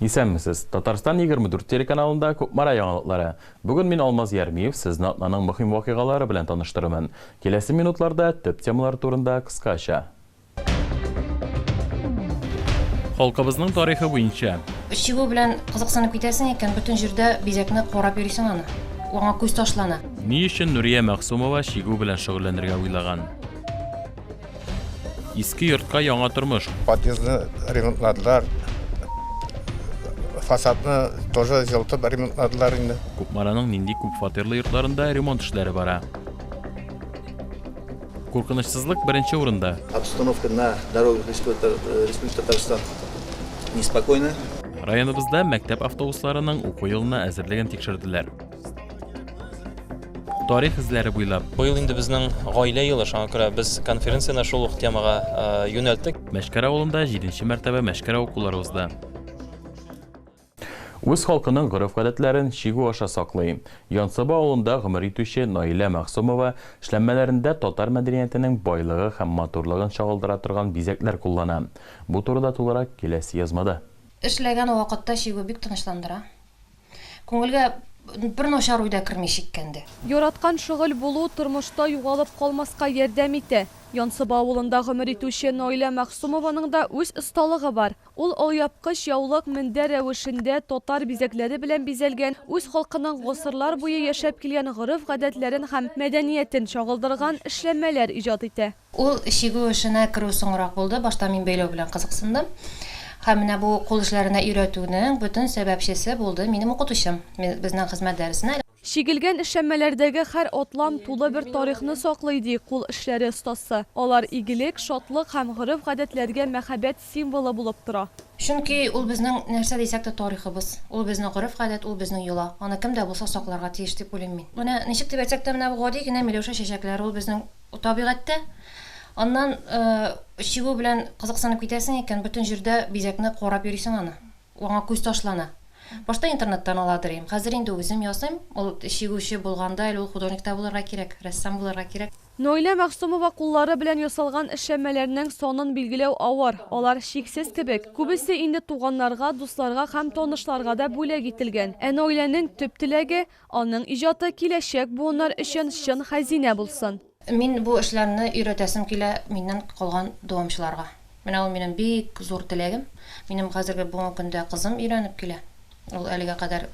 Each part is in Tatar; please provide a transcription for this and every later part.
Исәнмесез! Татарстан егерме дүрт телеканалында Кукмара яңалыклары. Бүген мин Алмаз Ярмиев сезне атнаның мөһим вакыйгалары белән таныштырырмын. Киләсе минутларда төп темалар турында кыскача. Халкыбызның тарихы буенча. Чигү белән кызыксынып китәсең икән, бөтен җирдә бизәкне карап йөрисең аны. Аңа күз ташлана. Ни өчен Нурия Мәгъсумова чигү белән шөгыльләнергә уйлаган? Иске йортка яңа тормыш. Подъездны ремонтладылар. Фасадны тоже җылтып ремонтладылар инде. Кукмараның нинди күп фатирлы йортларында ремонт эшләре бара. Куркынычсызлык беренче урында. Обстановка на дорогах Республики Татарстан неспокойна. Районыбызда мәктәп автобусларының уку елына әзерлеген тикшерделәр. тарих эзләре буйлап. Быел инде безнең гаилә елы, шуңа күрә без конференцияне шул ук темага э, юнәлттек. Мәшкәр авылында 7 мәртәбә мәшкәр укулары узды. Үз халкының гореф-гадәтләрен чигү аша саклый. Янсаба авылында гомер итүче Наилә Мәгъсумова эшләнмәләрендә татар мәдәниятенең байлыгы һәм матурлыгын чагылдыра торган бизәкләр куллана. Бу турыда тулырак киләсе язмада. Эшләгән вакытта чигү бик тынычландыра. Күңелгә бер начар уй да керми шиккәндә. Яраткан шөгыль булу тормышта югалып калмаска ярдәм итә. Янсыба авылында гомер итүче Наилә Мәгъсумованың да үз осталыгы бар. Ул алъяпкыч, яулык, мендәр рәвешендә татар бизәкләре белән бизәлгән, үз халкының гасырлар буе яшәп килгән гореф-гадәтләрен һәм мәдәниятен чагылдырган эшләнмәләр иҗат итә. Ул чигү эшенә керү соңрак булды, башта мин бәйләү белән кызыксындым. Һәм менә бу кул эшләренә өйрәтүнең бөтен сәбәпчесе булды минем укытучым, безнең хезмәт дәресенә. Чигелгән эшләнмәләрдәге һәр атлам тулы бер тарихны саклый, ди кул эшләре остасы. Алар игелек, шатлык һәм гореф-гадәтләргә мәхәббәт, символы булып тора. Чөнки ул безнең нәрсә дисәк тә тарихыбыз, ул безнең гореф-гадәт, ул безнең йола. Аны кем дә булса сакларга тиеш дип уйлыйм мин. Менә ничек дип әйтсәк тә, менә бу гади генә миләүшә чәчәкләре, ул безнең табигатьтә. Аннан чигү белән кызыксынып китәсең икән, бөтен җирдә бизәкне карап йөрисең аны. Аңа күз ташлана. Башта интернеттан аладыр идем, хәзер инде үзем ясыйм. Ул чигүче булганда әле ул художник та булырга кирәк, рәссам булырга кирәк. Наилә Мәгъсумова куллары белән ясалган эшләнмәләрнең санын билгеләү авыр, алар чиксез кебек. Күбесе инде туганнарга, дусларга һәм танышларга да бүләк ителгән. Ә Наиләнең төп теләге, аның иҗаты киләчәк буыннар өчен чын хәзинә булсын. Мин бу эшләрне өйрәтәсем килә миннән калган дәвамчыларга. Менә ул минем бик зур теләгем. Минем хәзерге бүгенге көндә кызым өйрәнеп килә. Ул әлегә кадәр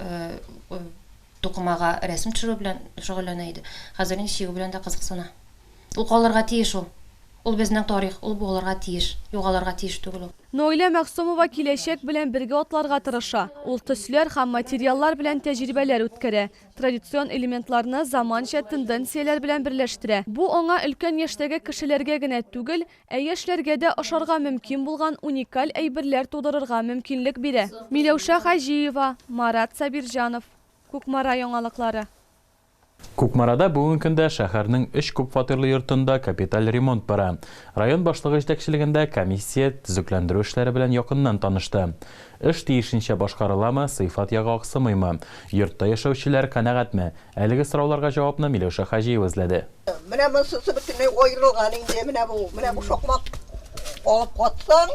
Тукымага рәсем төшерү белән шөгыльләнә иде. Хәзер инде чигү белән дә кызыксына. Ул калырга тиеш ул. Ул безнең тарих, ул буылырга тиеш. Югалырга тиеш түгел ул. Наилә Мәгъсумова киләчәк белән бергә атларга тырыша. Ул төсләр һәм материаллар белән тәҗрибәләр үткәрә, традицион элементларны заманча тенденцияләр белән берләштерә. Бу аңа өлкән яшьтәге кешеләргә генә түгел, Ә яшьләргә дә ошарга мөмкин булган уникаль әйберләр тудырырга мөмкинлек бирә. Миләүшә Хаҗиева, Марат Сабирҗанов, Кукмара яңалыклары. Кукмарада бүген көндә шәһәрнең өч күпфатирлы йортында капиталь ремонт бара. Район башлыгы җитәкчелегендә комиссия төзекләндерү эшләре белән якыннан танышты. Эш тиешенчә башкарыламы, сыйфат ягы аксымыймы? Йортта яшәүчеләр канәгатьме? Әлеге сорауларга җавапны Миләүшә Хаҗиева эзләде. Менә монсысы бөтенләй аерылган инде, менә бу, менә бу шакмак алып катсаң,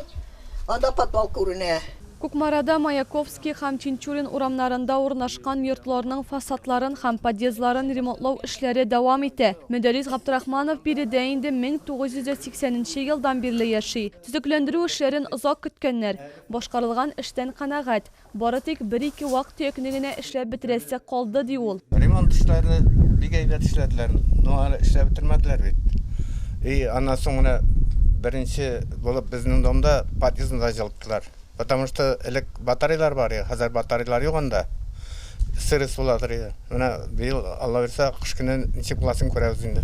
анда подвал күренә. Кукмарада Маяковский һәм Тинчурин урамнарында урнашкан йортларның фасадларын һәм подъездларын ремонтлау эшләре дәвам итә. Мөдәррис Габдрахманов биредә инде 1980 нче елдан бирле яши. Төзекләндерү эшләрен озак көткәннәр. Башкарылган эштән канәгать. Бары тик бер-ике вак-төякне генә эшләп бетерәсе калды, ди ул. Ремонт эшләрне бик әйбәт эшләделәр, но әле эшләп бетермәделәр бит. И аннан соң менә беренче булып безнең домда подъездны да җылыттылар. Потому что элек батарейлар бар иде, хәзер батарейлар юк анда. Сырость буладыр иде. Менә быел, Аллабирса, кыш көне ничек буласын күрәбез инде.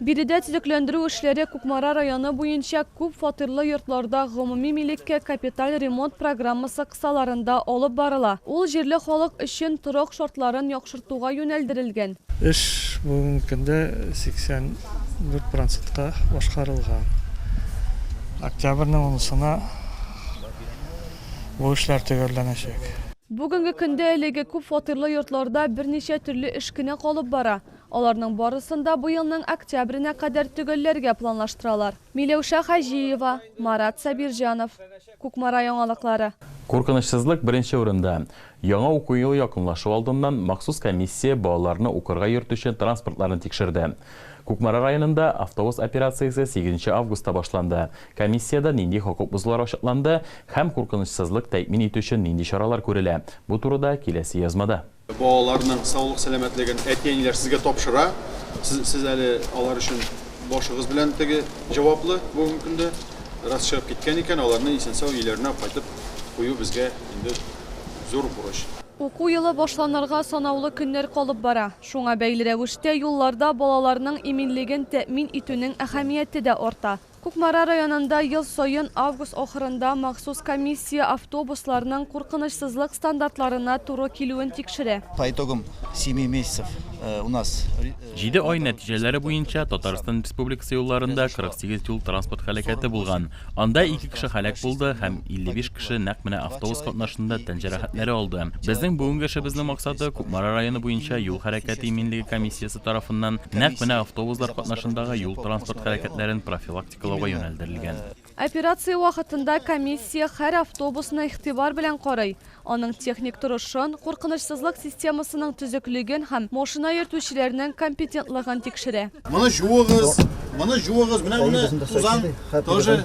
Биредә төзекләндерү эшләре Кукмара районы буенча күп фатирлы йортларда гомуми милеккә капиталь ремонт программасы кысаларында алып барыла. Ул җирле халык өчен торак шартларын яхшыртуга юнәлдерелгән. Эш бүгенге көндә 84 процентка башкарылган. Октябрьнең унысына бу эшләр төгәлләнәчәк. Бүгенге көндә әлеге күп фатирлы йортларда берничә төрле эш кенә калып бара. Аларның барысын да бу елның октябренә кадәр төгәлләргә планлаштыралар. Миләүшә Хаҗиева, Марат Сабирҗанов, Кукмара яңалыклары. Куркынычсызлык беренче урында. Яңа уку елы якынлашу алдыннан махсус комиссия балаларны укырга йөртүче транспортларны тикшерде. Кукмара районында автобус операциясе сигезенче августта башланды. Комиссиядә нинди хокук бозулар ачыкланды һәм куркынычсызлык тәэмин итү өчен нинди чаралар күрелә, бу турыда киләсе язмада. Балаларның саулык-сәламәтлеген әти-әниләр сезгә тапшыра. Сез, сез әле алар өчен башыгыз белән теге җаваплы бүгенге көндә. Раз чыгып киткән икән, аларны исән-сау өйләренә кайтып кую безгә инде зур бурыч. Уку елы башланырга санаулы көннәр калып бара. Шуңа бәйле рәвештә юлларда балаларның иминлеген тәэмин итүнең әһәмияте дә арта. Кукмара районында ел саен август ахырында махсус комиссия автобусларның куркынычсызлык стандартларына туры килүен тикшерә. По итогам семи месяцев у нас. Җиде ай нәтиҗәләре буенча Татарстан Республикасы юлларында 48 юл-транспорт һәлакәте булган. Анда ике кеше һәлак булды һәм 55 кеше нәкъ менә автобус катнашында тән җәрәхәтләре алды. Безнең бүгенге эшебезнең максаты, Кукмара районы буенча юл хәрәкәте иминлеге комиссиясе тарафыннан нәкъ менә автобуслар катнашындагы юл-транспорт хәрәкәтләрен профилактикалауга юнәлдерелгән. Операция вакытында комиссия һәр автобусны игътибар белән карый, аның техник торышын, куркынычсызлык системасының төзеклеген һәм машина йөртүчеләрнең компетентлыгын тикшерә. Моны җуыгыз, моны җуыгыз, менә менә тузан тоже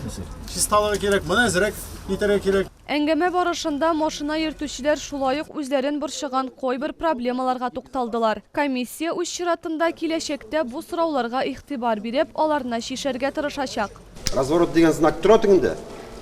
чисталыгы кирәк, моны әзрәк итәргә кирәк. Әңгәмә барышында машина йөртүчеләр шулай ук үзләрен борчыган кайбер проблемаларга тукталдылар. Комиссия, үз чиратында, киләчәктә бу сорауларга игътибар биреп, аларны чишәргә тырышачак. Разворот дигән знак тора тегендә?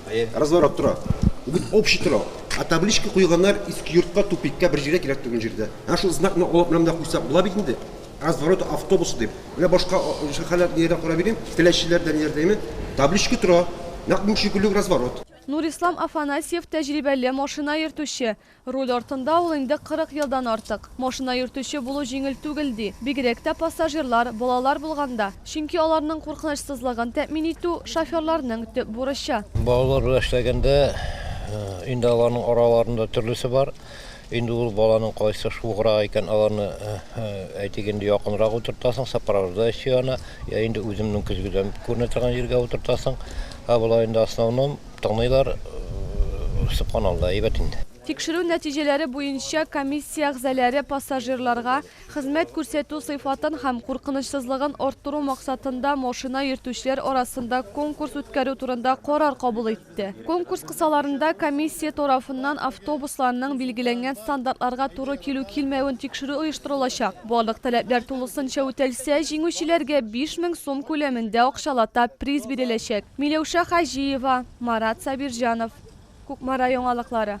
Әйе. Разворот тора. Бүген общий тора. Ә табличка куйганнар Иске йортка, тупикка, бер җиргә кирәк түгел җирдә. Әнә шул знакны алып менә монда куйсак була бит инде. Разворот автобусы дип. Менә башка шәһәрләр нигә дә карап йөрим, Теләчеләрдә ниләрдә, әйеме? Табличка тора. Нәкъ менә шикелле үк разворот. Нурислам Афанасьев, тәҗрибәле машина йөртүче. Руль артында ул инде 40 елдан артык. Машина йөртүче булу җиңел түгел, ди. Бигрәк тә пассажирлар, балалар булганда. Чөнки аларның куркынычсызлыгын тәэмин итү, шоферларның төп бурычы. Балалар белән эшләгәндә, инде аларның араларында төрлесе бар. Инде ул баланың кайсы шуграк икән, аларны, әйтик, инде якынрак утыртасың, сопровождающий ана, я инде үземнең көзгедән күренә торган җиргә утыртасың. Ә болай инде основном тыңлыйлар, суккан алда, әйбәт инде. Тикшерү нәтиҗәләре буенча комиссия әгъзаләре пассажирларга хезмәт күрсәтү сыйфатын һәм куркынычсызлыгын арттыру максатында машина йөртүчеләр арасында конкурс үткәрү турында карар кабул итте. итте. Конкурс кысаларында комиссия тарафыннан автобусларның билгеләнгән стандартларга туры килү-килмәвен тикшерү оештырылачак. Барлык таләпләр тулысынча үтәлсә, җиңүчеләргә 5 мең сум күләмендә акчалата приз биреләчәк. Миләүшә Хаҗиева, Марат Сабирҗанов. Кукмара яңалыклары.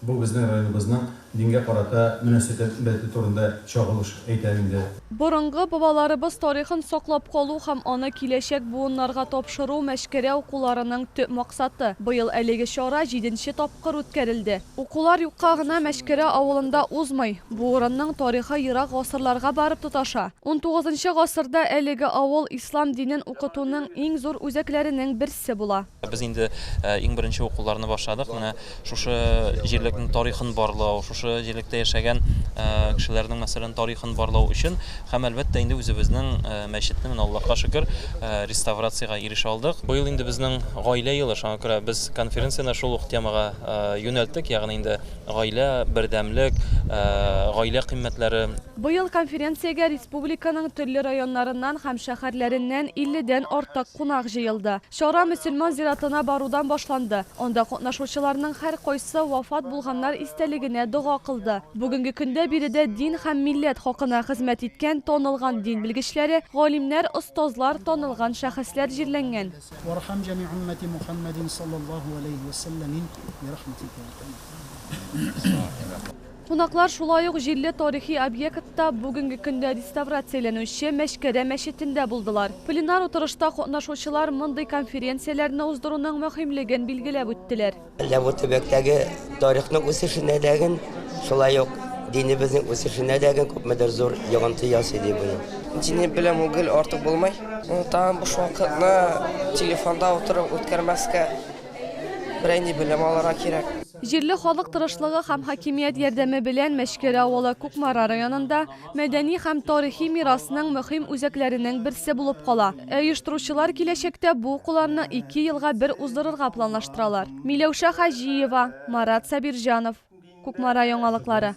Бу безнең районыбызның дингә карата мөнәсәтәбәте турында чагылыш әйтә инде. Борынгы бабаларыбыз тарихын саклап калу һәм аны киләчәк буыннарга тапшыру Мәчкәрә укуларының төп максаты. Быел әлеге чара җиденче тапкыр үткәрелде. Укулар юкка гына Мәчкәрә авылында узмый. Бу урынның тарихы ерак гасырларга барып тоташа. Унтугызынчы гасырда әлеге авыл ислам динен укытуның иң зур үзәкләренең берсе була. Без инде иң беренче укуларны башладык. Менә шушы җирлекнең тарихын барлау, шушы җирлектә яшәгән кешеләрнең, мәсәлән, тарихын барлау өчен һәм әлбәттә инде үзебезнең мәчетне менә Аллаһка шөкер реставрациягә ирешә алдык. Быел инде безнең гаилә елы, шуңа күрә без конференцияне шул ук темага юнәлттек, ягъни инде гаилә, бердәмлек, гаилә кыйммәтләре. Быел конференциягә республиканың төрле районнарыннан һәм шәһәрләреннән 50 дән артык кунак җыелды. Чара мөселман зиратына барудан башланды. Анда катнашучыларның һәркайсы вафат булганнар истәлегенә дога кылды. Бүгенге көндә биредә дин һәм милләт хакына хезмәт иткән танылган дин белгечләре, галимнәр, остазлар, танылган шәхесләр җирләнгән. Вархам җәми уммәти Мухәммәдин салләллаһу галәйһи вә сәлләмин бирахмәтикә йә архәмәр рахимин. Кунаклар шулай ук җирле тарихи объектта, бүгенге көндә реставрацияләнүче Мәчкәрә мәчетендә булдылар. Пленар утырышта катнашучылар мондый конференцияләрне уздыруның мөһимлеген билгеләп үттеләр. Әллә бу төбәктәге тарихның үсешенә дә гел, шулай ук динебезнең үсешенә дә гел күпмедер зур йогынты ясый, ди бу ел. Дине белән гел артык булмый. Тагын буш вакытны телефонда утырып үткәрмәскә. Берәйнди белем алырга кирәк. Җирле халык тырышлыгы һәм хакимият ярдәме белән Мәчкәр авылы Кукмара районында мәдәни һәм тарихи мирасның мөһим үзәкләренең берсе булып кала. Ә оештыручылар киләчәктә бу укуларны ике елга бер уздырырга планлаштыралар. Миләүшә Хаҗиева, Марат Сабирҗанов. Кукмара яңалыклары.